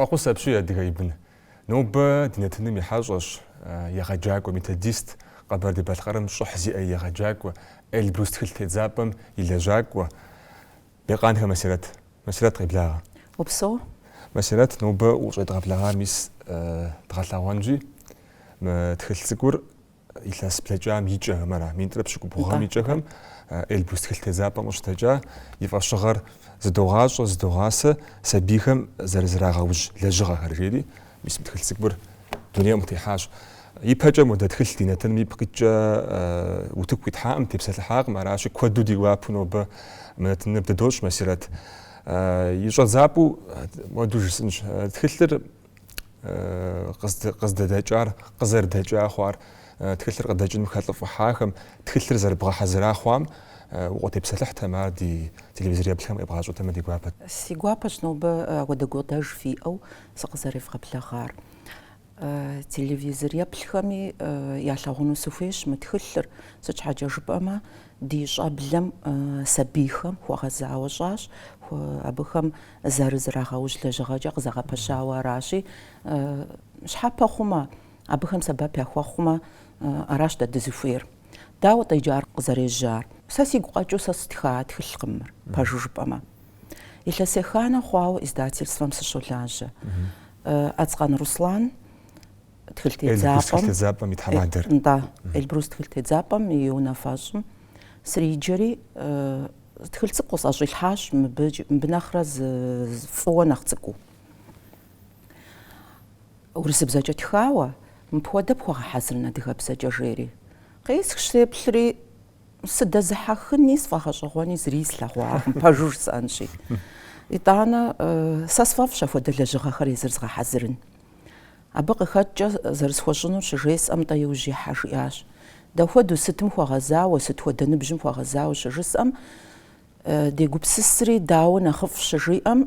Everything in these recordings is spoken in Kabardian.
Фӏэхъус апщий, Адыгэ и бын. Нобэ ди нэтыным и хьэщӏэщ, егъэджакӏуэ, методист, Къэбэрдей-Балъкъэрым щӏыхь зиӏэ и егъэджакӏуэ, Эльбрус тхылъ тедзапӏэм и лэжьакӏуэ. Бекъанхэ Масирэт. Масирэт, къеблагъэ. Упсэу. Масирэт, нобэ ущӏедгъэблэгъар мис дгъэлъэгъуэнщи, мы тхылъ цӏыкӏур Илъэс блэкӏам и кӏэм ара, минитӏрэ пщыкӏубгъу гъэм и кӏэхэм Эльбрус тхылъ тедзапӏэм къыщыдэкӏа и фӏэщыгъэр зыдогъащӏэ, зыдогъасэ сабийхэм зэрызрагъэужь лэжьыгъэхэр, жери мис мы тхылъ цӏыкӏур дунейм къытехьащ. Ипэкӏэ модэ тхылъ ди нэтыным ипкъ иткӏэ утыку къитхьакъым, тепсэлъыхьакъым, аращи куэду ди гуапэу нобэ мы нэтыныр бдыдощӏ Масирэт. И щӏэдзапӏэу моду жысӏынщ. Тхылъыр къыздэдэкӏар, къызэрыдэкӏа хъуар, тхылъыр къыдэкӏыным хэлӏыфӏыхьахэм, тхылъыр зэрыбгъэхьэзыра хъуам укъытепсэлъыхьтэм, ар ди телевизор еплъхэм къебгъащӏэтэмэ ди гуапэт. Си гуапэщ нобэ апхуэдэ гукъыдэж фиӏэу сыкъызэревгъэблэгъар. Телевизор еплъхэми ялъагъуну сыхуейщ мы тхылъыр, сыт щхьэкӏэ жыпӏэмэ ди щӏэблэм сабийхэм хуэгъэзауэ щӏащ, абыхэм зэрызрагъэужь лэжьыгъэкӏэ къызэгъэпэщауэ аращи, щхьэпэ хъумэ, абыхэм сэбэп яхуэхъумэ, аращ дэ дызыхуейр. Дауэ-тӏэ иджы ар къызэрежьар? Сэ сигу къэкӏыу сэ сытха тхылъкъым мыр, пэжу жыпӏэмэ. Илъэс еханэ хъуауэ издательствэм сыщолажьэ. Ацкъан Руслан тхылъ тедзапӏэм, Эльбрус тхылъ тедзапӏэм и унафэщӏым сриджэри, Тхылъ цӏыкӏу къысӏэщӏилъхьащ мыбы нэхърэ зы фӏыуэ нэхъ цӏыкӏуу. Урысыбзэкӏэ тхауэ, мыпхуэдэ пхуэгъэхьэзырын адыгэбзэкӏэ жери. Къеӏысхщ сеплъри, сыдэзыхьэхыни сфӏэгъэщӏэгъуэни зыри слъэгъуакъым, пэжу жысӏэнщи. Итӏанэ, сэ сфӏэфӏщ апхуэдэ лэжьыгъэхэр езыр згъэхьэзырын. Абы къыхэкӏкӏэ зэрысхуэщӏынур щыжесӏэм, тӏэ иужь ихьэ, жиӏащ. Дапхуэдэу, сытым хуэгъэзауэ, сыт хуэдэ ныбжьым хуэгъэзауэ щыжысӏэм, дегупсысри, дауэ нэхъыфӏ щыжиӏэм,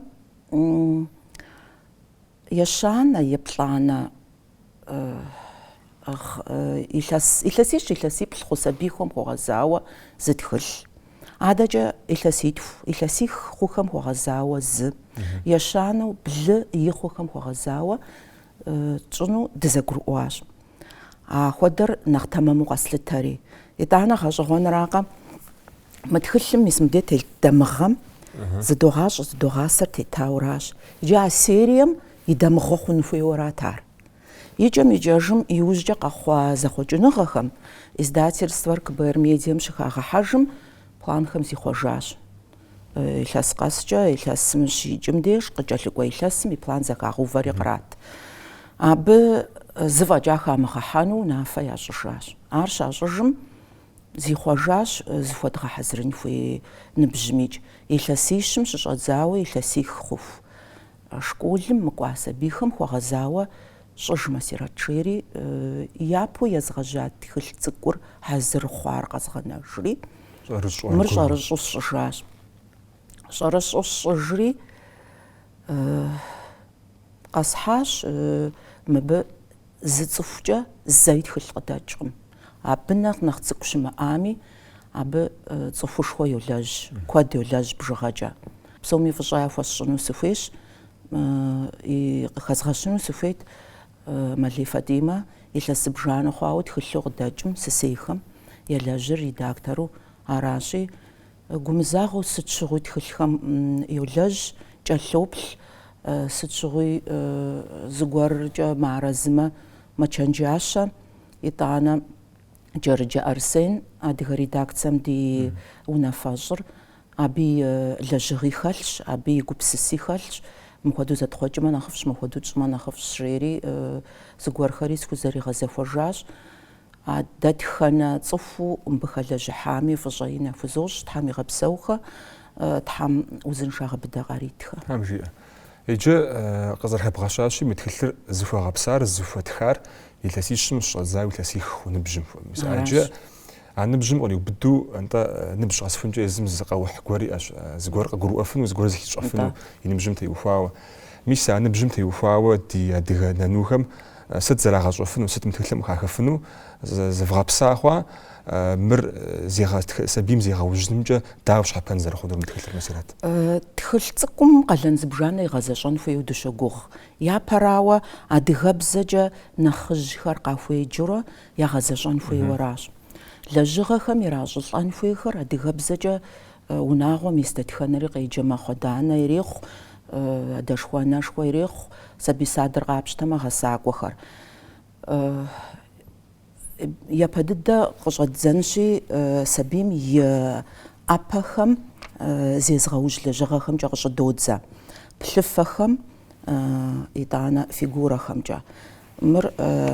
ещанэ, еплӏанэ, илъэсищ-илъэсиплӏ хъу сабийхэм хуэгъэзауэ зы тхылъ. Адэкӏэ илъэситху, илъэсих хъухэм хуэгъэзауэ зы, ещанэу блы-и хъухэм хуэгъэзауэ тщӏыну дызэгурыӏуащ. Апхуэдэр нэхъ тэмэму къэслъытэри. Итӏанэ гъэщӏэгъуэнракъэ, мы тхылъым мис мыбдей телъ дамыгъэм зыдогъащӏэ-зыдогъасэр тетауэ аращ. Иджы а серием и дамыгъэ хъун хуейуэ арат ар. Икӏэм-икӏэжым иужькӏэ къэхъуа зэхъуэкӏыныгъэхэм издательствэр КБР Медиэм щыхагъэхьэжым планхэм зихъуэжащ. Илъэс къэскӏэ илъэсым щикӏым деж къыкӏэлъыкӏуэ илъэсым и план зэхагъэувэри кърат. Абы зы фӏэкӏа хамыгъэхьэну унафэ ящӏыжащ. Ар щащӏыжым зихъуэжащ зыхуэдгъэхьэзырын хуей ныбжьымикӏ, илъэсищым щыщӏэдзауэ илъэсих хъуху. Школым мыкӏуа сабийхэм хуэгъэзауэ щӏыж, Масирэт, жери, япэу езгъэжьа тхылъ цӏыкӏур хьэзыр хъуар къэзгъэнэжри, мыр щӏэрыщӏэу сщӏыжащ. Щӏэрыщӏэу сщӏыжри, къэсхьащ мыбы зы цӏыхукӏэ зэи тхылъ къыдэкӏкъым. Абы нэхъ нэхъ цӏыкӏу щымыӏами, абы цӏыхушхуэ йолэжь, куэд йолэжь бжыгъэкӏэ. Псоми фӏыщӏэ яхуэсщӏыну сыхуейщ, и къыхэзгъэщыну сыхуейт Мэлей Фатӏимэ илъэс зыбжанэ хъуауэ тхылъу къыдэкӏым сысейхэм елэжьыр редактору аращи, Гумызагъэу сыт щыгъуи тхылъхэм йолэжь, кӏэлъоплъ, сыт щыгъуи зыгуэркӏэ мыарэзымэ, мэчэнджащэ. Итӏанэ Джэрыджэ Арсен, адыгэ редакцэм ди унафэщӏыр, абы и лэжьыгъи хэлъщ, абы и гупсыси хэлъщ, мыхуэдэу зэтхъуэкӏмэ нэхъыфӏщ, мыхуэдэу тщӏмэ нэхъыфӏщ, жери зыгуэрхэри схузэригъэзэхуэжащ. А дэтхэнэ цӏыхуу мыбы хэлэжьыхьами, фӏыщӏэ ин яхузощӏ, Тхьэм игъэпсэухэ, Тхьэм узыншагъэ быдэ къаритхэ. Тхьэм жиӏэ. Иджы къызэрыхэбгъэщащи, мы тхылъыр зыхуэгъэпсар, зыхуэтхар илъэсищым щӏэдзауэ илъэсих хъу ныбжьым хуэмыщ. Иджы а ныбжьым къриубыду, нтӏэ, ныбжь къэсыхункӏэ езым зыкъэухь гуэр иӏэщ, зыгуэр къыгурыӏуэфыну, зыгуэр зыхищӏэфыну и ныбжьым теухуауэ. Мис а ныбжьым теухуауэ ди адыгэ нанухэм Сыт зэрагъэщӏэфыну, сыт мы тхылъым къыхахэфыну зывгъэпса хъуа, мыр сабийм зегъэужьынымкӏэ дауэ щхьэпэн зэрыхъунур мы тхылъыр, Масирэт? Тхылъ цӏыкӏум къалэн зыбжанэ игъэзэщӏэн хуейуэ дыщогугъ. Япэрауэ, адыгэбзэкӏэ нэхъыжьхэр къахуеджэурэ ягъэзэщӏэн хуейуэращ. Лэжьыгъэхэм иращӏылӏэн хуейхэр адыгэбзэкӏэ Унагъуэм ис дэтхэнэри къеджэ мэхъу, адэ-анэ ирехъу, адэшхуэ-анэшхуэ ирехъу, сабий садыр къапщтэмэ гъэсакӏуэхэр. Япэ дыдэ къыщӏэддзэнщи, сабийм и ӏэпэхэм зезыгъэужь лэжьыгъэхэмкӏэ къыщӏыдодзэ, плъыфэхэм, итӏанэ фигурэхэмкӏэ. Мыр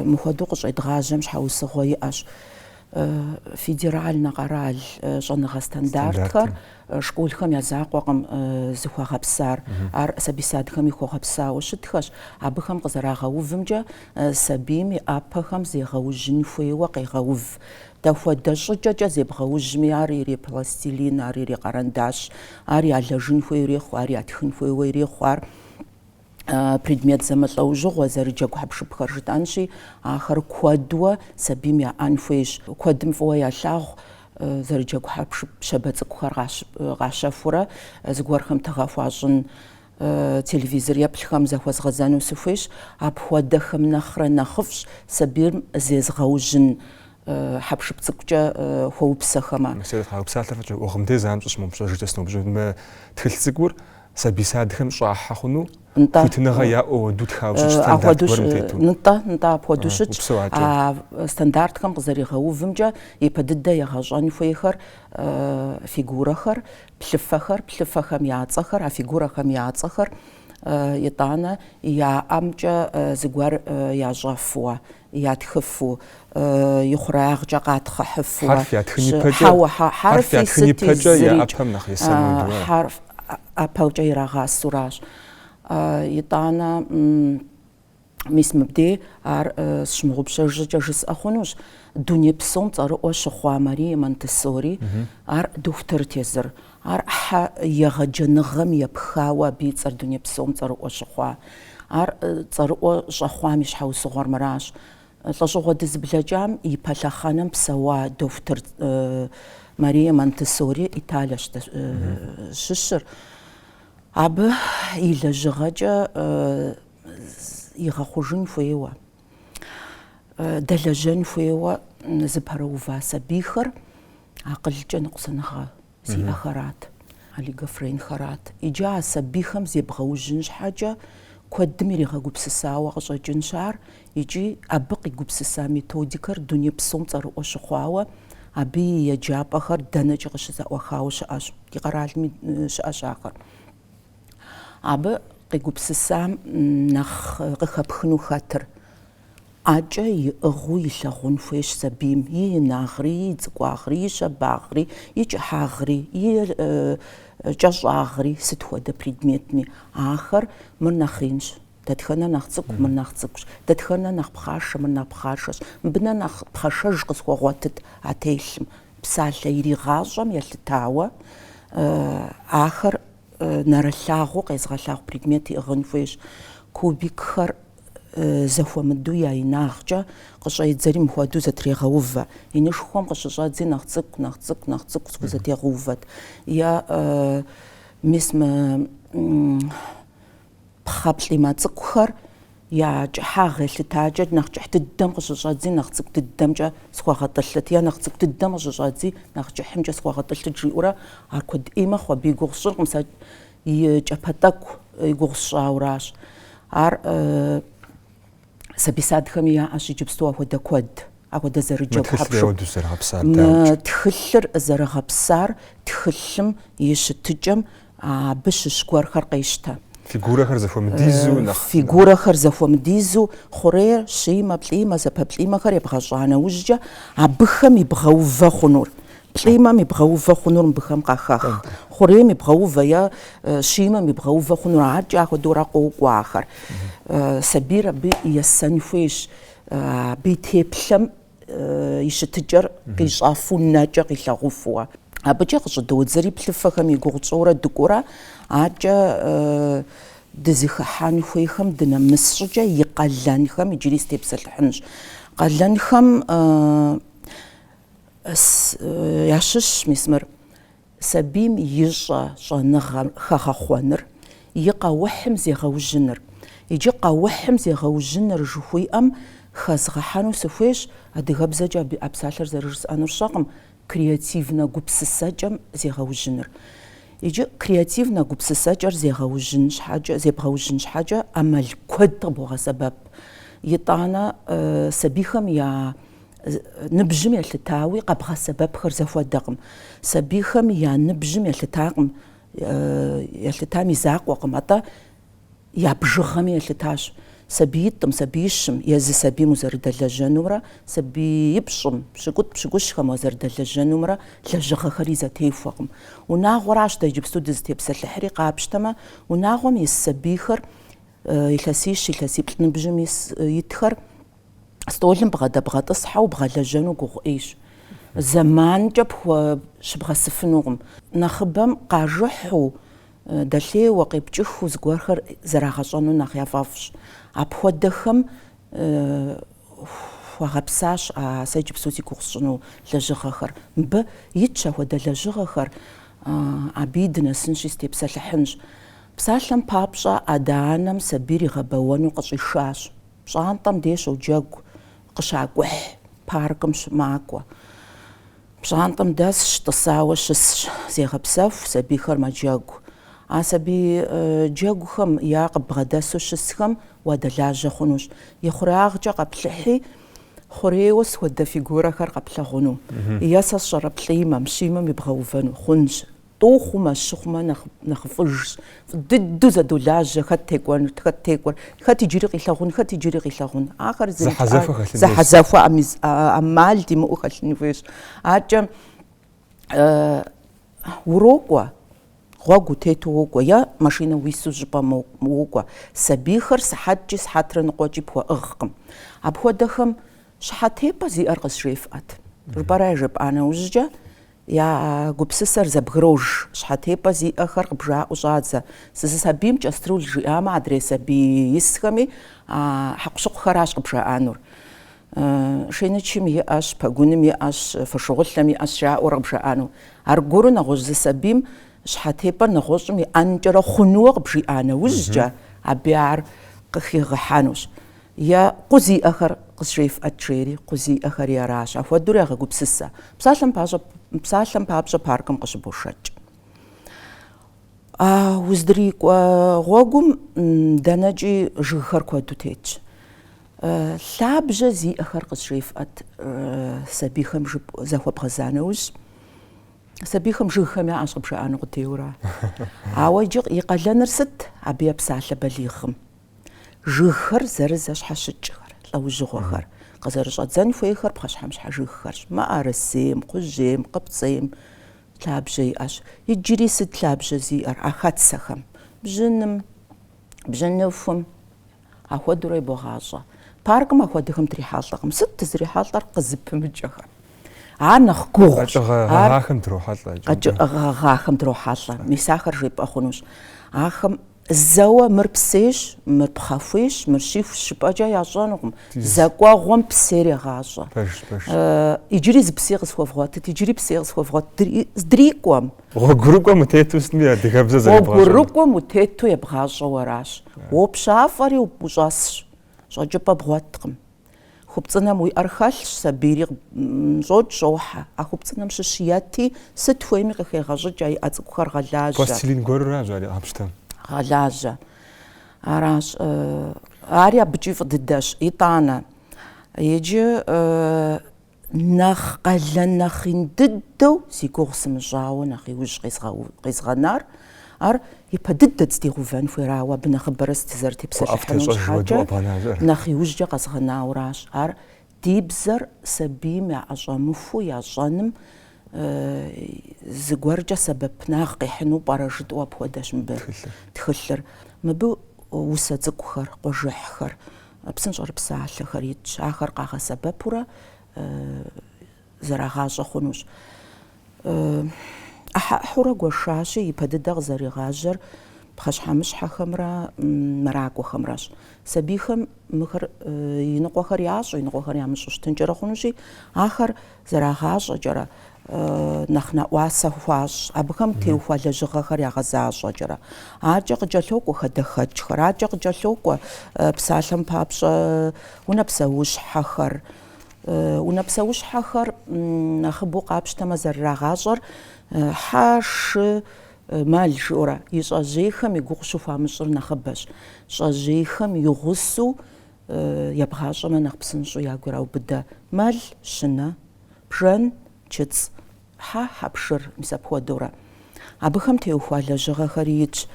мыхуэдэу къыщӏедгъажьэм щхьэусыгъуэ иӏэщ федеральнэ къэрал щӏэныгъэ стандартхэр школхэм я закъуэкъым зыхуэгъэпсар. Ар сабий-садхэми хуэгъэпсауэ щытхэщ. Абыхэм къызэрагъэувымкӏэ, сабийм и ӏэпэхэм зегъэужьын хуейуэ къегъэув. Дахуэдэ щӏыкӏэкӏэ зебгъэужьми, ар ирепластилин, ар ирекъэрэндащ, ар ялэжын хуейуэ ирехъу, ар ятхын хуейуэ ирехъу. Ар. предмет зэмылӏэужьыгъуэ зэрыджэгу хьэпшыпхэр жытӏэнщи, ахэр куэдуэ сабийм яӏэн хуейщ. Куэдым фӏыуэ ялъагъу зэрыджэгу хьэпшып щабэ цӏыкӏухэр къащэхурэ зыгуэрхэм тыгъэ хуащӏын, телевизор еплъхэм захуэзгъэзэну сыхуейщ. Апхуэдэхэм нэхърэ нэхъыфӏщ сабийм зезгъэужьын хьэпшып цӏыкӏукӏэ хуэупсэхэмэ. Мисырет уи псалъэр фӏыкӏэ ӏуэхъым де занщӏэу сщымыгъупщэж щӏыкӏэ сыноупщӏыну. Тхылъ цӏыкӏур Сабий садхэм щӏахьэ хъуну? Нтӏэ. Хуитыныгъэ яӏэу уэду тхауэ щытщ стандарт Апхуэдэу гуэрым щ- тету. Нтӏэ, нтӏэ, апхуэдэу А, щытщ. упсэу аджэ. А стандартхэм къызэригъэувымкӏэ ипэ дыдэ егъэщӏэн хуейхэр э, фигурэхэр, плъыфэхэр, плъыфэхэм я цӏэхэр, а фигурэхэм я цӏэхэр э, итӏанэ я ӏэмкӏэ э, зыгуэр э, ящӏэфуэ, ятхыфу, и хъуреягъкӏэ къатхъыхьыфуэ. Хьэрф ятхын ипэкӏэ. Хьэуэ, хьэрфи сыти зырикӏ. Хьэрф ятхын ипэкӏэ я ӏэпэм нэхъ есэну. Хьэрф ӏэпэукӏэ ирагъасэуращ. Итӏанэ, мис мыбдей ар сщымыгъупщэж щӏыкӏэ жысӏэ хъунущ, дуней псом цӏэрыӏуэ щыхъуа Мария Монтессори, ар дохутырт езыр. Арщхьэ егъэджэныгъэм епхауэ абы и цӏэр дуней псом цӏэрыӏуэ щыхъуа. Ар цӏэрыӏуэ щӏэхъуам и щхьэусыгъуэр мыращ. Лӏэщӏыгъуэ дызыблэкӏам и пэ лъэхъэнэм псэуа дохутыр Мария Монтессори, Италиэщ щыщыр, абы и лэжьыгъэкӏэ игъэхъужын хуейуэ, дэлэжьэн хуейуэ зыпэрыува сабийхэр. Акъылкӏэ ныкъусаныгъэ зиӏэхэрат, олигофренхэрат. Иджы а сабийхэм зебгъэужьын щхьэкӏэ куэдым иригъэгупсысауэ къыщӏэкӏынщ ар икӏи абы къигупсыса методикэр дуней псом цӏэрыӏуэ щыхъуауэ, абы и еджапӏэхэр дэнэкӏи къыщызэӏуахауэ щыӏэщ, ди къэралми щыӏэщ ахэр. Абы къигупсысам нэхъ къыхэпхыну хэтыр. ӏэкӏэ иӏыгъыу илъагъун хуейщ сабийм и инагъри, и цӏыкӏуагъри, и щабагъри, и кӏыхьагъри, и кӏэщӏагъри, сыт хуэдэ предметми. Ахэр, мыр нэхъ инщ, дэтхэнэр нэхъ цӏыкӏу, мыр нэхъ цӏыкӏущ, дэтхэнэр нэхъ пхъашэ, мыр нэхъ пхъашэщ, мыбынэ нэхъ пхъашэж къысхуэгъуэтыт а телъым. Псалъэ иригъащӏэм елъытауэ, ахэр. Нэрылъагъуу къезыгъэлъагъу предмет иӏыгъын хуейщ. Кубикхэр зэхуэмыдэу я инагъкӏэ къыщӏедзэри мыхуэдэу зэтрегъэувэ. Инышхуэм къыщыщӏэдзи нэхъ цӏыкӏу, нэхъ цӏыкӏу, нэхъ цӏыкӏу схузэтегъэувэт. Е мис мы Пхъэплӏимэ цӏыкӏухэр я кӏыхьагъ елъытакӏэ нэхъ кӏыхь дыдэм къыщыщӏэдзи, нэхъ цӏыкӏу дыдэмкӏэ схуэгъэтӏылъыт, е нэхъ цӏыкӏу дыдэм къыщыщӏэдзи, нэхъ кӏыхьымкӏэ схуэгъэтӏылъыт, жиӏэурэ ар куэд ӏей мэхъу, абы и гугъу сщӏыркъым, сэ и кӏэпэ тӏэкӏу и гугъу сщӏауращ. Ар. Сабий садхэми яӏэщ иджыпсту апхуэдэ куэд, апхуэдэ зэрыджэгу хьэпшып. Мы тхылъыр зэрыгъэпсар тхылъым и щытыкӏэм абы щыщ гуэрхэр къещтэ. Фигурэхэр зэхуэмыдизу хъурейр, щимэ, плӏимэ, зэпэплӏимэхэр ебгъэщӏа нэужькӏэ, абыхэм ибгъэувэ хъунур, Плӏимэм ибгъэувэ хъунур мыбыхэм къахэх. Хъурейм ибгъэувэ е щимэм ибгъэувэ хъунур адэкӏэ ахуэдэурэ къокӏуэ ахэр. Сабийр абы есэн хуейщ, абы и теплъэм и щытыкӏэр къищӏэфу нэкӏэ къилъагъуфу. Абыкӏэ къыщӏыдодзэри плъыфэхэм и гугъу тщӏыурэ дыкӏуэурэ адэкӏэ дызыхыхьэн хуейхэм дынэмыс щӏыкӏэ и къалэнхэм иджыри сытепсэлъыхьынщ. Къалэнхэм Ящыщщ мис мыр. Сабийм и щӏэ щӏэныгъэ хэгъэхъуэныр, и къэухьым зегъэужьыныр. Иджы къэухьым зегъэужьыныр жыхуиӏэм хэзгъэхьэну сыхуейщ, адыгэбзэкӏэ а псалъэр зэрыжысӏэнур сщӏэркъым, креативнэ гупсысэкӏэм зегъэужьыныр. Иджы креативнэ гупсысэкӏэр зегъэужьын щхьэкӏэ, зебгъэужьын щхьэкӏэ ӏэмал куэд къыбогъэсэбэп. Итӏанэ сабийхэм я Ныбжьым елъытауи къэбгъэсэбэпхэр зэхуэдэкъым. Сабийхэм я ныбжьым елъытакъым, елъытам и закъуэкъым, атӏэ я бжыгъэми елъытащ. Сабиитӏым, сабиищым, езы сабийм узэрыдэлэжьэнумрэ сабиипщӏым, пщыкӏутӏ-пщыкӏущхэм узэрыдэлэжьэнумрэ лэжьыгъэхэри зэтехуэкъым. Унагъуэращ дэ иджыпсту дызытепсэлъыхьри, къапщтэмэ, унагъуэм ис сабийхэр, илъэсищ, илъэсиплӏ ныбжьым ис, итхэр, стӏолым бгъэдэбгъэтӏысхьэу бгъэлэжьэну гугъу ӏейщ. Зэманкӏэ пхуэщыбгъэсыфынукъым. Нэхъыбэм къажыхьу, дэлъейуэ, къепкӏыхыу зыгуэрхэр зэрагъэщӏэну нэхъ яфӏэфӏщ. Апхуэдэхэм хуэгъэпсащ а сэ иджыпсту зи гугъу сщӏыну лэжьыгъэхэр. Мыбы итщ ахуэдэ лэжьыгъэхэр, абыи дынэсынщи, сытепсэлъыхьынщ. Псалъэм папщӏэ, адэ-анэм сабийр игъэбэуэну къыщӏишащ. Пщӏантӏэм дей щоджэгу къыщакӏухь паркым щымакӏуэ. Пщӏантӏэм дэсщ, тӏысауэ щысщ, зегъэпсэху сабийхэр мэджэгу. А сабий джэгухэм я къыбгъэдэсу щысхэм уадэлажьэ хъунущ. И хъуреягъкӏэ къэплъыхьи, хъурейуэ схуэдэ фигурэхэр къэплъэгъуну е сэ сщӏэрэ плӏимэм, щимэм ибгъэувэну хъунщ. Тӏу хъумэ, щы хъумэ нэхъыфӏыжщ, фӏы дыдэу зэдолажьэ хэт текӏуэн, хэт текӏуэр, хэт иджыри къилъэгъун, хэт иджыри къилъэгъун. Ахэр зэхьэзэхуэ ӏэмал димыӏэу хэлъын хуейщ. Акӏэ урокӏуэ, гъуэгу утету уокӏуэ е машинэ уису зыщӏыпӏэ уокӏуэ. Сабийхэр сыхьэткӏи сыхьэтрэ ныкъуэкӏи пхуэӏыгъкъым. Апхуэдэхэм щхьэтепӏэ зиӏэр къызжефӏэт жыпӏэрэ яжепӏа нэужькӏэ Я гупсысэр зэбгрож, щхьэтепӏэ зиӏэхэр къыбжаӏэу щӏадзэ. Зы сабийм кӏэструл жиӏамэ, адрей сабий исхэми а хьэкъущыкъухэращ къыбжаӏэнур. Шейнычым иӏэщ, пэгуным иӏэщ, фошыгъулъэм иӏэщ жаӏэурэ къыбжаӏэну. Аргуэру нэгъуэщӏ зы сабийм щхьэтепӏэр нэгъуэщӏым иӏэнкӏэрэ хъунууэ къыбжиӏа нэужькӏэ, абы ар къыхигъэхьэнущ. Е къу зиӏэхэр къызжефӏэт жери, къу зиӏэхэри аращ, ахуэдэурэ ягъэгупсысэ. Псалъэм папщӏэ, псалъэм папщӏэ паркым къыщыбошэкӏ. А уздрикӏуэ гъуэгум дэнэкӏи жыгхэр куэду тетщ. Лъабжьэ зиӏэхэр къызжефӏэт сабийхэм жып захуэбгъэза нэужь, сабийхэм жыгхэм яӏэщ къыбжаӏэну къудейуэра. Ауэ иджы и къалэныр сыт абы епсалъэ балигъым? Жыгхэр зэрызэщхьэщыкӏхэр, лӏэужьыгъуэхэр, къызэрыщӏэдзэн хуейхэр пхъэщхьэмыщхьэ жыгхэрщ. Мыӏэрысейм, кхъужьейм, къыпцӏейм лъабжьэ иӏэщ. Иджыри сыт лъабжьэ зиӏэр а хэтсэхэм? Бжьыным, бжьыныхум, ахуэдэурэ ебогъащӏэ. Паркым ахуэдэхэм дрихьэлӏэкъым. Сыт дызрихьэлӏэр къызыпымыкӏэхэм? Ар нэхъ гугъущ. Къэкӏыгъэ гъэгъахэм дрохьэлӏэ. Къэкӏыгъэ гъэгъахэм дрохьэлӏэ. Мис ахэр жепӏэ хъунущ. Ахэм Зэуэ мыр псейщ, мыр пхъэхуейщ, мыр щихущ жыпӏэкӏэ ящӏэнукъым. Зэ кӏуэгъуэм псейр егъащӏэ. Пэжщ, пэжщ. Иджыри зы псей къысхуэвгъуэтыт, иджыри псей къысхуэвгъуэт здрикӏуэм. Гъуэгурыкӏуэм утету сытми адыгэбзэ зэребгъащӏэну. Гъуэгурыкӏуэм утету ебгъащӏэу аращ. Уопщафӏэри ущӏэсщ, щӏэкӏыпӏэ бгъуэткъым. Хупцӏынэм уи ӏэр хэлъщ, сабийри щӏокӏ, щӏохьэ. А хупцӏынэм щыщ ети, сыт хуейми къыхегъэщӏыкӏ, а иӏэ цӏыкӏухэр гъэлажьэ. Пластилин гуэрыращ ари къапщтэм. Гъэлажьэ. Аращ. Ари абыкӏи фӏы дыдэщ. Итӏанэ. Иджы Нэхъ къалэн, нэхъ ин дыдэу зи гугъу сымыщӏауэ нэхъ иужь къэзгъэнар, ар ипэ дыдэ дздигъувэн хуейрауэ абы нэхъыбэрэ дызэрытепсэлъыхьыну щхьэкӏэ нэхъ иужькӏэ къэзгъэнауращ. Ар ди бзэр сабийм яӏэщӏэмыхуу ящӏэным зыгуэркӏэ сэбэпынагъ къихьыну пӏэрэ жытӏэу апхуэдэщ мыбы тхылъыр. Мыбы усэ цӏыкӏухэр, къуэжыхьхэр. Псынщӏэрыпсалъэхэр итщ, ахэр къагъэсэбэпурэ зэрагъащӏэ хъунущ. Ӏыхьэ-ӏыхьэурэ гуэшащи, ипэ дыдэ къызэригъажьэр пхъэщхьэмыщхьэхэмрэ мэракӏуэхэмрэщ. Сабийхэм мыхэр иныкъуэхэр ящӏэу, иныкъуэхэр ямыщӏу щытынкӏэрэ хъунущи, ахэр зэрагъащӏэкӏэрэ, нэхъ нэӏуасэ хуащӏ, абыхэм теухуа лэжьыгъэхэр ягъэзащӏэкӏэрэ. Адэкӏэ къыкӏэлъокӏуэ хадэхэкӏхэр, адэкӏэ къыкӏэлъокӏуэ псалъэм папщӏэ унэ псэущхьэхэр. Унэ псэущхьэхэр нэхъыбэу къапщтэмэ зэрырагъащӏэр хьэ, шы, мэл жыӏэурэ, и щӏэжьейхэм и гугъу щыхуамыщӏыр нэхъыбэщ. Щӏэжьейхэм и гъусэу ебгъащӏэмэ нэхъ псынщӏэу ягу ираубыдэ, мэл, щынэ, бжэн, чыцӏ, хьэ, хьэпшыр, мис апхуэдэурэ. Абыхэм теухуа лэжьыгъэхэри итщ.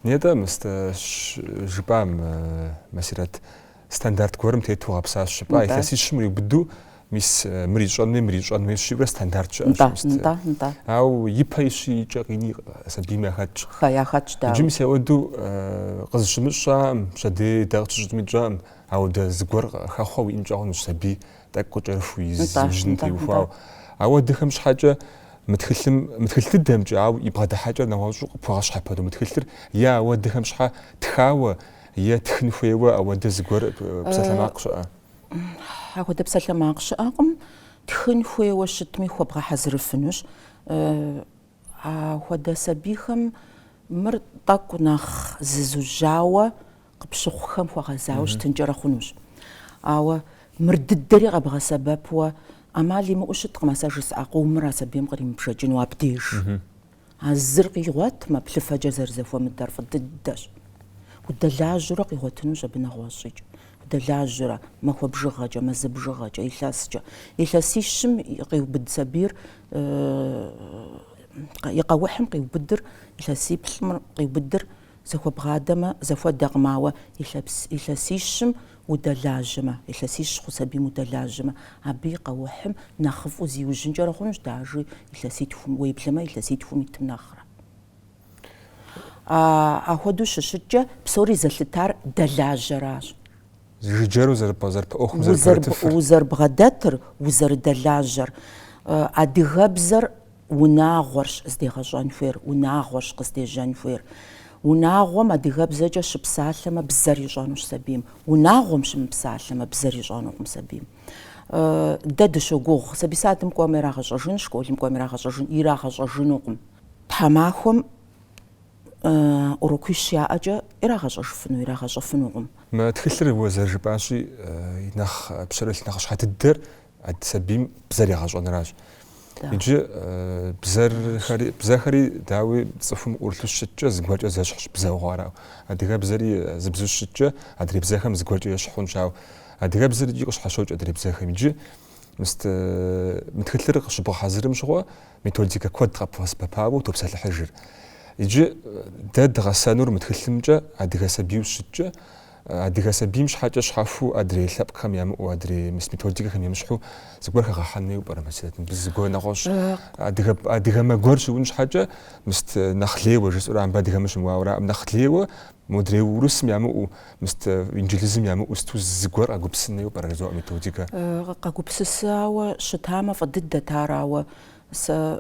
Нетӏэ, мыстэ, жыпӏам, Масирэт, стандарт гуэрым тету гъэпсащ жыпӏа илъэсищым ириубыду Мис мыр ищӏэн хуей, мыр ищӏэн хуей жиӏэурэ стандарт щыӏэщ. Нтӏэ, мис нтӏэ, нтӏэ. Ауэ ипэ ищи икӏэ къини сабийм яхэтщ. Хэ, яхэтщ, дауэ. Иджы мис ауэдэу къызыщымыщӏам, пщэдей дэ къытщыщӏми тщӏэкъым, ауэдэ зыгуэр хэхъуэ уиӏэнкӏэ хъунущ сабий тӏэкӏу кӏэрыхуу, нтӏэ, и зыужьыным нтӏэ, теухуауэ. нтӏэ. Ауэдэхэм щхьэкӏэ мы тхылъым, мы тхылъ дыдэмкӏэ, ауэ и бгъэдыхьэкӏэр нэгъуэщӏу къыпхуэгъэщхьэпэну мы тхылъыр е ауэдэхэм щхьэ тхауэ, е тхын хуейуэ ауэдэ зыгуэр псалъэмакъ щыӏэ? Апхуэдэ псалъэмакъ щыӏэкъым. Тхын хуейуэ щытми хуэбгъэхьэзырыфынущ. Апхуэдэ сабийхэм мыр тӏэкӏу нэхъ зызужьауэ къыпщыхъухэм хуэгъэзауэ щытынкӏэрэ хъунущ. Ауэ мыр дыдэри къэбгъэсэбэпуэ ӏэмал имыӏэу щыткъым а сэ жысӏа къомыр а сабийм къримыбжэкӏыну абдеж. А зыр къигъуэтмэ, плъыфэкӏэ зэрызэхуэмыдэр фӏы дыдэщ. Удэлажьэурэ къигъуэтынущ абы нэгъуэщӏикӏ. Удэлажьэурэ, махуэ бжыгъэкӏэ, мазэ бжыгъэкӏэ, илъэскӏэ. Илъэсищым къиубыд сабийр, и къэухьым къиубыдыр, илъэсиплӏым къиубыдыр зэхуэбгъадэмэ, зэхуэдэкъым, ауэ илъэсищым удэлажьэмэ, илъэсищ хъу сабийм удэлажьэмэ, абы и къэухьым нэхъыфӏу зиужьынкӏэрэ хъунущ даже илъэситхум, уеблэмэ илъэситхум итым нэхърэ. Ахуэдэу щыщыткӏэ, псори зэлъытар дэлажьэращ. Жыджэру зэрыпэ ӏуэхум зэрыпэрытыфыр. Узэрыбгъэдэтыр, узэрыдэлажьэр. Адыгэбзэр Унагъуэрщ здегъэщӏэн хуейр, унагъуэрщ къыздежьэн хуейр. Унагъуэм адыгэбзэкӏэ щыпсалъэмэ, бзэр ищӏэнущ сабийм. Унагъуэм щымыпсалъэмэ, бзэр ищӏэнукъым сабийм. Дэ дыщогугъ, сабий садым кӏуэмэ ирагъэщӏэжын, школым кӏуэмэ ирагъэщӏэжын, ирагъэщӏэжынукъым. Тхьэмахуэм урокуищ яӏэкӏэ ирагъэщӏэжыфыну, ирагъэщӏэфынукъым. Мы тхылъыр уэ зэрыжыпӏащи, нэхъ пщэрылъ нэхъыщхьэ дыдэр Ад сабийм бзэр егъэщӏэныращ. Иджы бзэрхэри, бзэхэри дауи цӏыхум ӏурлъу щыткӏэ зыгуэркӏэ зэщхьщ бзэу хъуар, ауэ адыгэбзэри зыбзу щыткӏэ адрей бзэхэм зыгуэркӏэ ещхь хъунщ, ауэ адыгэбзэр икӏи къыщхьэщокӏ адрей бзэхэм. Иджы мы тхылъыр къыщыбгъэхьэзырым щыгъуэ методикэ куэд къэбгъэсэбэпауэ утопсэлъыхьыжыр. Иджы дэ дгъэсэнур мы тхылъымкӏэ адыгэ сабийуэ щыткӏэ Адыгэ сабийм щхьэкӏэ щхьэхуу адрей лъэпкъхэм ямыӏэу, адрей мыс методикэхэм емыщхьу зыгуэр хэгъэхьэн хуейуэ пӏэрэ Масирэт? Мыбы зы гуэр нэгъуэщӏ. Адыгэ, адыгэмэ гуэр щыун щхьэкӏэ мыст нэхъ лейуэ жысӏэурэ мыбы адыгэмэ щымыуауэраӏым. Нэхъ лейуэ модрей урысым ямыӏэу, мыст инджылызым ямыӏэу сыту зы гуэр къэгупсын хуейуэ пӏэрэ жызоӏэ методикэ? Къэгупсысауэ щытамэ фӏы дыдэт ар, ауэ сэ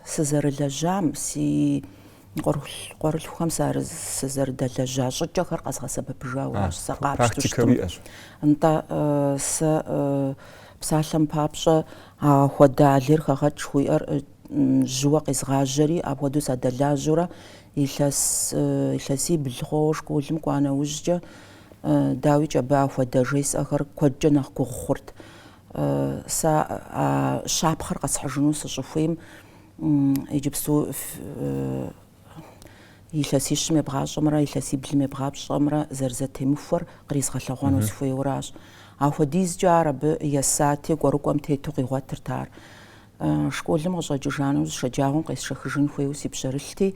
сызэрылэжьам, си Къуэрылъхухэм сызэрыдэлэжьа щӏыкӏэхэр къэзгъэсэбэпыжауэращ сэ къапщтэу щытмэ. Нтӏэ, сэ псалъэм папщӏэ ахуэдэ а лейр хэгъэкӏ жыхуиӏэр жьыуэ къезгъажьэри, апхуэдэу садэлажьэурэ, илъэсибл хъуауэ школым кӏуа нэужькӏэ, дауикӏ, абы ахуэдэ жесӏэхэр куэдкӏэ нэхъ гугъу хъурт. Сэ а щапхъэр къэсхьыжыну сыщӏыхуейм, Иджыпсту илъэсищым ебгъащӏэмрэ илъэсиблым ебгъащӏэмрэ зэрызэтемыхуэр къризгъэлъэгъуэну сыхуейуэращ. Ахуэдизкӏэ ар абы есати, кӏуэрыкӏуэм тету къигъуэтырт ар. Школым къыщӏэкӏыжа нэужь шэджагъуэм къесшэхыжын хуейуэ си пщэрылъти,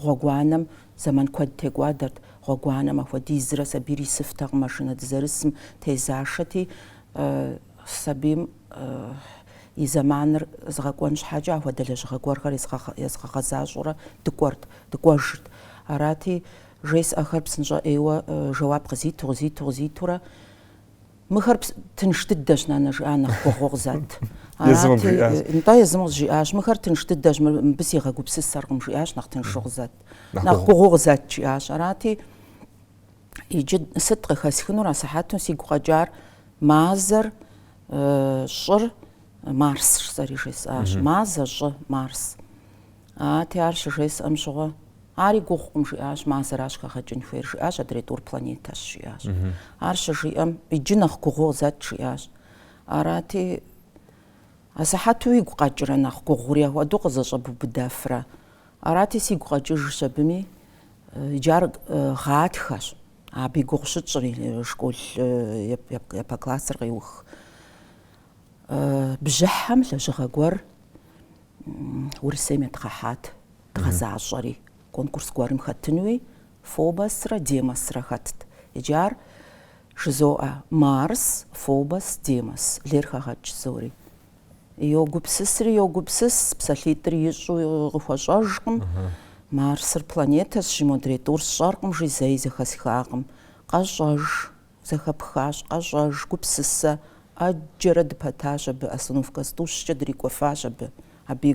гъуэгуанэм зэман куэд текӏуадэрт. Гъуэгуанэм ахуэдизрэ сабийр исыфтэкъым, машинэ дызэрысым тезашэти, сабийм и зэманыр згъэкӏуэн щхьэкӏэ ахуэдэ лэжьыгъэ гуэрхэр езгъэгъэзащӏэурэ дыкӏуэрт, дыкӏуэжырт. Арати, жесӏэхэр псынщӏэ ӏейуэ жэуап къызиту, къызиту, къызитурэ, Мыхэр тынш дыдэщ, нанэ, жиӏа нэхъ гугъуу къызэт. Арати, нтӏэ, езым къызжиӏащ, мыхэр тынш дыдэщ, мыбы сигъэгупсысэркъым, жиӏащ нэхъ тыншу къызэт, нэхъ гугъуу къызэт, жиӏащ. Арати, Иджы сыт къыхэсхынур асыхьэту сигу къэкӏар мазэр щӏыр марс сэри жесӏащ мазэ щӏы марс ати ар щыжесӏэм щыгъуэ ари гугъукъым жиӏащ мазэращ хэгъэкӏын хуейр жиӏащ адрей тӏур планетэщ жиӏащ ар щыжиӏэм иджы нэхъ гугъу къызэт жиӏащ арати асыхьэту игу къэкӏрэ нэхъ гугъури ахуэдэу къызэщӏэбубыдэфрэ Арати, сигу къэкӏыжщ абыми. Иджы ар гъатхэщ. Абы и гугъу щытщӏри, школ япэ классыр къеух. Бжьыхьэм лэжьыгъэ гуэр Урысейм едгъэхьат, дгъэзащӏэри. Конкурс гуэрым хэтынуи Фобосрэ Демосрэ хэтт. Иджы ар жызоӏэ, Марс, Фобос, Демос. Лейр хэгъэкӏ зори. Йогупсысри йогупсыс, псалъитӏыр ищӏу къыхуэщӏэжкъым. Марсыр планетэщ, жи, модрей тӏур сщӏэркъым, жи зэи зэхэсхакъым. Къэщӏэж, зэхэпхащ, къэщӏэж, гупсысэ. ӏэджэрэ дыпэтащ абы, остановка зытӏущкӏэ дрикӏуэфащ абы, абы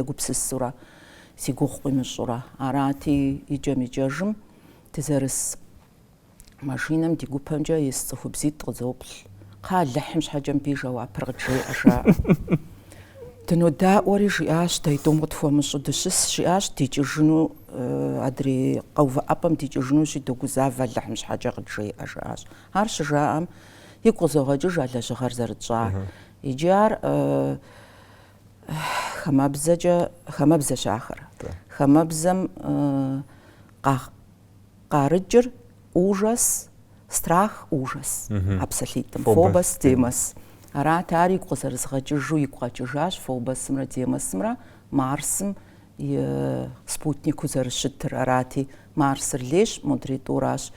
егупсысурэ, си гугъу къимыщӏурэ. Арати, икӏэм-икӏэжым дызэрыс машинэм ди гупэмкӏэ ис цӏыхубзитӏ къызоплъ. Кхъэ, Алыхьым щхьэкӏэ мыбы и жэуапыр къыджеӏэ, жаӏэ. Дынодаӏуэри, жиӏащ, дэ и тӏум къытхуэмыщӏу дыщыс, жиӏащ, дикӏыжыну, адрей къэувыӏэпӏэм дикӏыжынущи, догузавэ Алыхьым щхьэкӏэ къыджеӏэ, жаӏащ. Ар щыжаӏэм, игу къызогъэкӏыж а лэжьыгъэр зэрытщӏар. Иджы ар хамэбзэщ ахэр. Хамэбзэм къа, къарыкӏыр ужас, страх, ужас, а псалъитӏым, Фобос, Демос. Арат ар игу къызэрызгъэкӏыжу, игу къэкӏыжащ Фобосымрэ Демосымрэ Марсым и спутникыу зэрыщытыр. Арати, Марсыр лейщ, модрей тӏуращ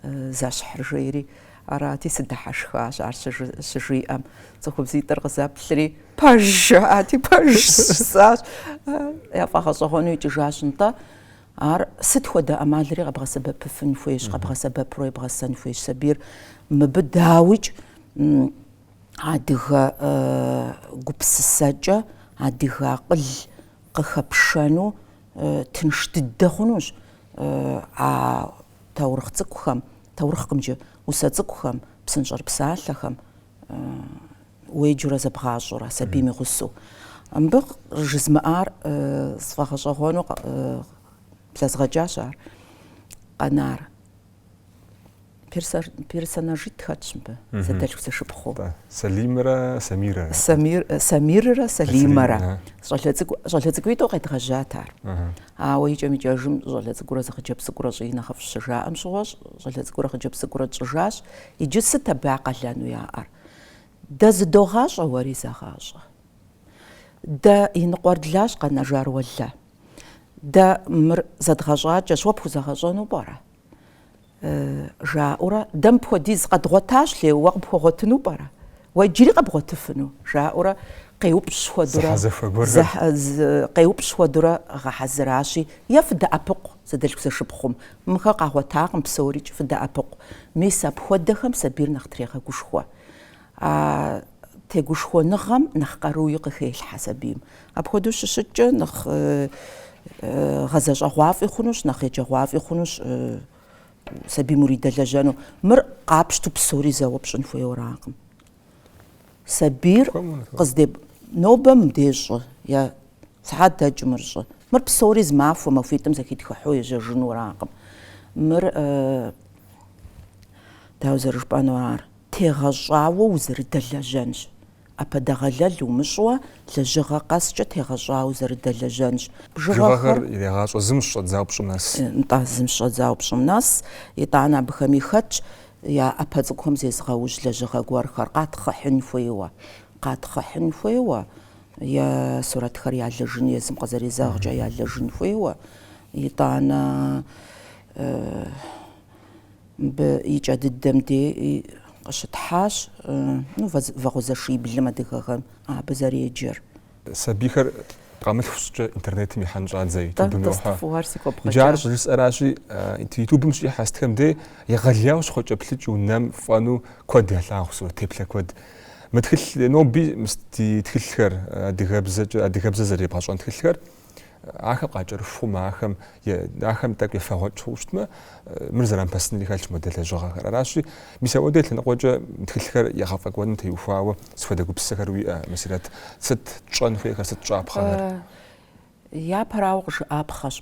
зэщхьыр жери. Арати, сыдыхьэшхащ ар щыжиӏэм. Цӏыхубзитӏыр къызэплъри, пэж! жаӏати, пэж жысӏащ. Яфӏэгъэщӏэгъуэну икӏыжащ нтӏэ. Ар сыт хуэдэ ӏэмалри къэбгъэсэбэпыфын хуейщ, къэбгъэсэбэпурэ ебгъэсэн хуейщ сабийр. Мыбы дауикӏ адыгэ гупсысэкӏэ, адыгэ акъыл къыхэпшэну тынш дыдэ хъунущ а таурыхъ цӏыкӏухэм, таурыхъкъым иджы, усэ цӏыкӏухэм, псынщӏэрыпсалъэхэм. уеджэурэ зэбгъащӏэурэ, сабийм и гъусэу. Мыбы жызмыӏар сфӏэгъэщӏэгъуэну блэзгъэкӏащ ар. Къэнар. Персонажитӏ хэтщ мыбы, зэдэлъхузэшыпхъуу. Сэлимрэ Самирэрэ. Самиррэ Сэлимэрэ. Щӏалэ цӏыкӏу, щӏалэ цӏыкӏуитӏу къедгъэжьат ар. Ауэ икӏэм-икӏэжым щӏалэ цӏыкӏурэ зы хъыджэбз цӏыкӏурэ щӏыи нэхъыфӏщ щыжаӏэм щыгъуэ, щӏалэ цӏыкӏурэ хъыджэбз цӏыкӏурэ тщӏыжащ. Иджы сыт абы я къалэну яӏэр? Дэ зыдогъащӏэ, уэри зэгъащӏэ. Дэ и ныкъуэр длащ, къэнэжар уэ лэ. Дэ мыр зэдгъэщӏакӏэщ, уэ пхузэгъэщӏэну пӏэрэ? жаӏэурэ, дэ мыпхуэдиз къэдгъуэтащ, лей, уэ къыпхуэгъуэтыну пӏэрэ? Уэ иджыри къэбгъуэтыфыну? жаӏэурэ къеупщӏ хуэдурэ, къеупщӏ хуэдурэ гъэхьэзыращи, е фыдэӏэпыкъу зэдэлъхузэшыпхъум, Мыхэ къагъуэтакъым псорикӏ фыдэӏэпыкъу, мис апхуэдэхэм сабийр нэхъ трегъэгушхуэ. А тегушхуэныгъэм нэхъ къаруи къыхелъхьэ сабийм. Апхуэдэу щыщыткӏэ нэхъ гъэзэщӏэгъуафӏи хъунущ, нэхъ еджэгъуафӏи хъунущ сабийм уридэлэжьэну. Мыр къапщту псори зэуэ пщӏын хуейуэракъым. Сабийр къыздеп. Нобэ мыбдеж щӏы, е сыхьэт дэкӏым мыр щӏы. Мыр псори зы махуэ махуитӏым зэхитхыхьу ежьэжынуракъым. Мыр, дауэ зэрыжыпӏэнур ар, тегъэщӏауэ узэрыдэлэжьэнщ. ӏэпэдэгъэлэл умыщӏуэ, лэжьыгъэ къэскӏэ тегъэщӏауэ узэрыдэлэжьэнщ. Бжыгъэхэр ирегъащӏэ зым щыщӏэдзауэ пщӏым нэс. Нтӏэ, зым щыщӏэдзауэ пщӏым нэс. Итӏанэ абыхэми хэтщ Я ӏэпэ цӏыкӏухэм зезыгъэужь лэжьыгъэ гуэрхэр къатхъыхьын хуейуэ, къатхъыхьын хуейуэ, е сурэтхэр ялэжын, езым къызэрезэгъкӏэ ялэжын хуейуэ, итӏанэ мыбы и кӏэ дыдэм де къыщытхьащ, ну, вагъуэзэшиблым адыгэхэм абы зэреджэр. Сабийхэр къэмылъху щӏыкӏэ интернетым ихьэн щӏадзэ ютубым йохьэ. Иджы ар щӏыжысӏэращи, ютубым щихьэ сытхэм де егъэлеяуэ щхъуэкӏэплъыкӏэу, нэм фӏэнэу куэд ялъагъу сурэт теплъэ куэд. Мы тхылъ ноби мис ди тхылъхэр, адыгэбзэкӏэ, адыгэбзэ зэребгъэщӏэн тхылъхэр Ахэр къакӏэрыхумэ, ахэм, ахэм тӏэкӏу ефэгъуэкӏыу щытмэ, мыр зрамыпэсынри хэлъщ модэ лэжьыгъэхэр. Аращи, мис апхуэдэ лъэныкъуэкӏэ тхылъхэр егъэфӏэкӏуэным теухуауэ сыт хуэдэ гупсысэхэр уиӏэ, Мусирэт? Сыт тщӏэн хуейхэр, сыт щӏапхъэхэр? Япэрауэ къыжыӏапхъэщ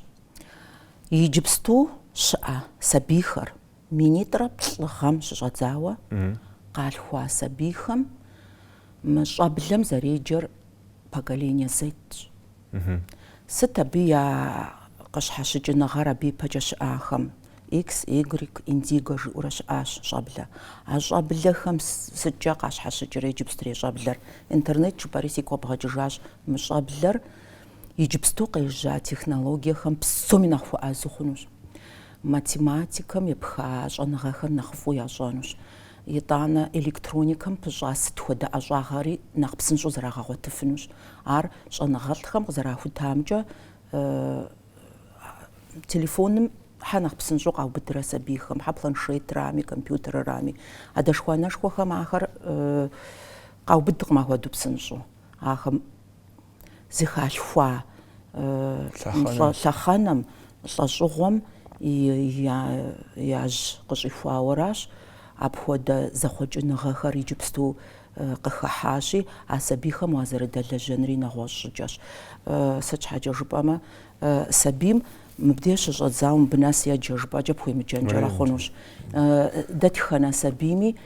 иджыпсту щыӏэ сабийхэр. Минитӏрэ плӏы гъэм щыщӏэдзауэ къалъхуа сабийхэм мы щӏэблэм зэреджэр поколение Z-щ. Сыт абы я къыщхьэщыкӏыныгъэр абы ипэкӏэ щыӏахэм? X, Y, Indigo жыӏэурэ щыӏащ щӏэблэ. А щӏэблэхэм сыткӏэ къащхьэщыкӏрэ иджыпстрей щӏэблэр? Интернет жыпӏэри сигу къэбгъэкӏыжащ мы щӏэблэр иджыпсту къежьа технологиехэм псоми нэхъ хуэӏэзэу хъунущ. Математикэм епха щӏэныгъэхэр нэхъыфӏу ящӏэнущ. Итӏанэ электроникэм пыщӏа сыт хуэдэ ӏэщӏагъэри нэхъ псынщӏэу зэрагъэгъуэтыфынущ. Ар щӏэныгъэлӏхэм къызэрахутамкӏэ, телефоным хьэ нэхъ псынщӏэу къаубыдрэ сабийхэм, хьэ планшетрами, компьютеррами, адэшхуэ-анэшхуэхэм ахэр къаубыдкъым ахуэдэу псынщӏэу. Ахэм зыхалъхуа лъэхъэнэм, лӏэщӏыгъуэм яжь къыщӏихуауэращ. Апхуэдэ зэхъуэкӏыныгъэхэр иджыпсту къыхыхьащи, а сабийхэм уазэрыдэлэжьэнри нэгъуэщӏ щӏыкӏэщ. Сыт щхьэкӏэ жыпӏэмэ, сабийм мыбдеж щыщӏэдзауэ мыбы нэс еджэ жыпӏэкӏэ пхуемыджэнкӏэрэ хъунущ. Дэтхэнэ сабийми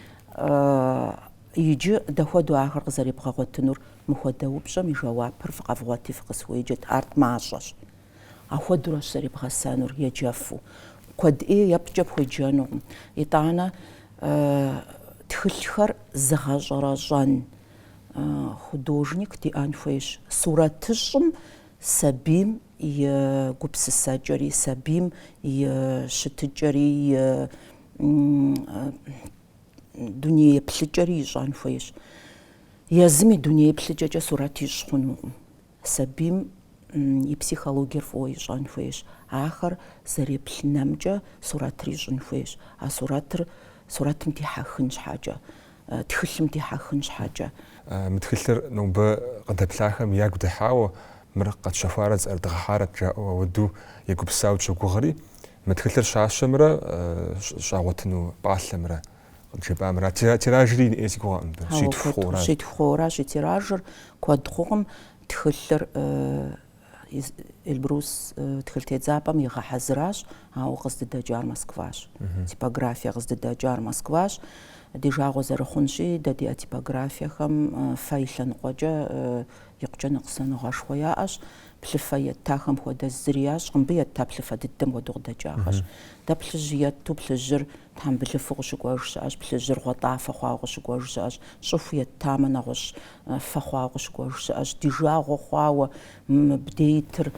иджы дэ хуэдэу ахэр къызэребгъэгъуэтынур Мыхуэдэ упщӏэм и жэуапыр фыкъэвгъуэти фыкъысхуеджэт, ар тӏмащӏэщ. Ахуэдуращ зэребгъэсэнур, еджэфу. Куэд ӏей епткӏэ пхуеджэнукъым. Итӏанэ тхылъхэр зыгъэщӏэрэщӏэн художник диӏэн хуейщ. Сурэтыщӏым сабийм и гупсысэкӏэри, сабийм и щытыкӏэри, и дуней еплъыкӏэри ищӏэн хуейщ. Езым и дуней еплъыкӏэкӏэ сурэт ищӏ хъунукъым. Сабийм и психологиер фӏыуэ ищӏэн хуейщ. Ахэр зэреплъ нэмкӏэ сурэтыр ищӏын хуейщ. А сурэтыр сурэтым дихьэхын щхьэкӏэ, тхылъым дихьэхын щхьэкӏэ. Мы тхылъыр нобэ къыдэплъахэм ягу дыхьауэ, мыр къэтщэхуарэт, зыӏэрыдгъэхьарэт жаӏэу ауэду егупсысауэ дыщогугъри, Мы тхылъыр щащэмрэ щагъуэтыну пӏалъэмрэ къыджепӏамэ арат, тиражри ину си гугъэкъым мыбы. Хьэуэ, щитху хъууэращ и тиражыр, куэд хъукъым. Тхылъыр э, из- Эльбрус э, тхылъ тедзапӏэм игъэхьэзыращ, ауэ къыздыдэкӏар Москващ. Типографие къыздыдэкӏар Москващ. Ди жагъуэ зэрыхъунщи, дэ ди а типографиехэм э, фэ и лъэныкъуэкӏэ э, икъукӏэ ныкъусаныгъэшхуэ яӏэщ. Плъыфэ еттахэм хуэдэ зыри ящӏкъым, мыбы етта плъыфэ дыдэм хуэдэу къыдэкӏахэщ. Дэ плъыжь етту плъыжьыр тхьэмбылыфу къыщыкӏуэж щыӏэщ, плъыжьыр гъуэтӏафэ хъуауэ къыщыкӏуэж щыӏэщ, щӏыху еттамэ, нэгъуэщӏ фэ хъуауэ къыщыкӏуэж щыӏэщ. Ди жагъуэ хъуауэ мыбдейтыр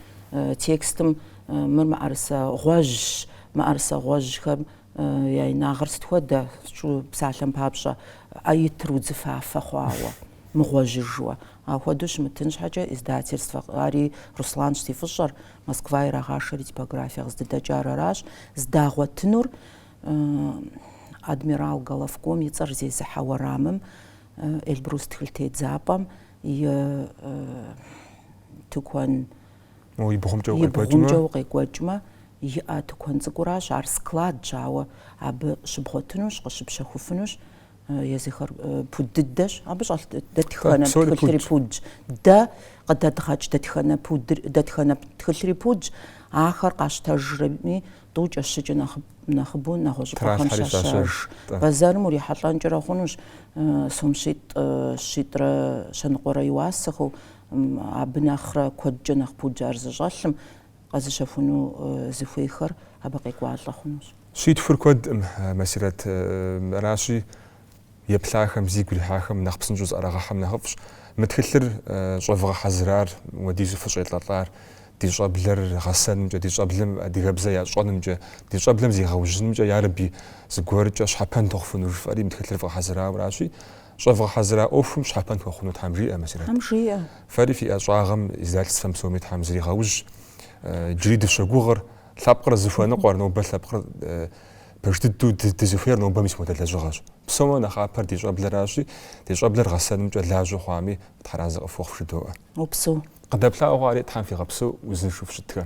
текстым мыр мыӏэрысэ гъуэжьщ, мыӏэрысэ гъуэжьхэм Я инагъыр сыт хуэдэ, сщӏу псалъэм папщӏэ, э итыр удзыфафэ хъуауэ, мыгъуэжьыжуэ. Апхуэдэу щымытын щхьэкӏэ издательствэ, ари Русланщ зи фӏыщӏэр, Москва ирагъашэри типографие къыздыдэкӏар аращ, здагъуэтынур адмирал Головком и цӏэр зезыхьэ уэрамым, Эльбрус тхылъ тедзапӏэм и тыкуэн И бгъумкӏэ укъекӏуэкӏмэ, иӏэ тыкуэн цӏыкӏуращ, ар складщ, ауэ абы щыбгъуэтынущ, къыщыпщэхуфынущ, езыхэр пуд дыдэщ, абы щӏэлъ дэтхэнэ тхылъри пудщ, дэ къыдэдгъэкӏ дэтхэнэ тхылъри пудщ, ахэр къащтэжрэми, тӏукӏэ-щыкӏэ нэхъыбэу нэгъуэщӏыпӏэхэм щащэж. Бэзэрым урихьэлӏэнкӏэрэ хъунущ сом щитӏ-щитӏрэ щэныкъуэрэ и уасэхэу. Абы нэхърэ куэдкӏэ нэхъ пудщ ар зыщӏэлъым къэзыщэхуну зыхуейхэр абы къекӏуалӏэ хъунущ. Щитхур куэдкъым, Масирэт. Аращи, еплъахэм, зигу ирихьахэм нэхъ псынщӏэу зыӏэрагъэхьэм нэхъыфӏщ. Мы тхылъыр щӏэвгъэхьэзырар, уэдизу фыщӏелӏэлӏар ди щӏэблэр гъэсэнымкӏэ, ди щӏэблэм адыгэбзэ ящӏэнымкӏэ, ди щӏэблэм зигъэужьынымкӏэ, ярэби, зыгуэркӏэ щхьэпэн тхуэхъуфыну жыфӏэри мы тхылъыр вгъэхьэзырауэ аращи, Щӏэвгъэхьэзыра ӏуэхум щхьэпэн хуэхъуну Тхьэм жиӏэ, Масирэт. Тхьэм жиӏэ. Фэри фи ӏэщӏагъэм, издательствэм псоми Тхьэм зригъэужь. Джыри дыщогугъыр, лъэпкъыр зыхуэныкъуэр, нобэ лъэпкъыр пэж дыдэу дызыхуейр нобэ мис модэ лэжьыгъэщ. Псомэ нэхъапэр ди щӏэблэращи, ди щӏэблэр гъэсэнымкӏэ лажьэу хъуами, Тхьэразэ къыфхуэхъу жыдоӏэ. Упсэу. Къыдэплъауэ хъуари Тхьэм фигъэпсэу узыншэу фыщытхэ.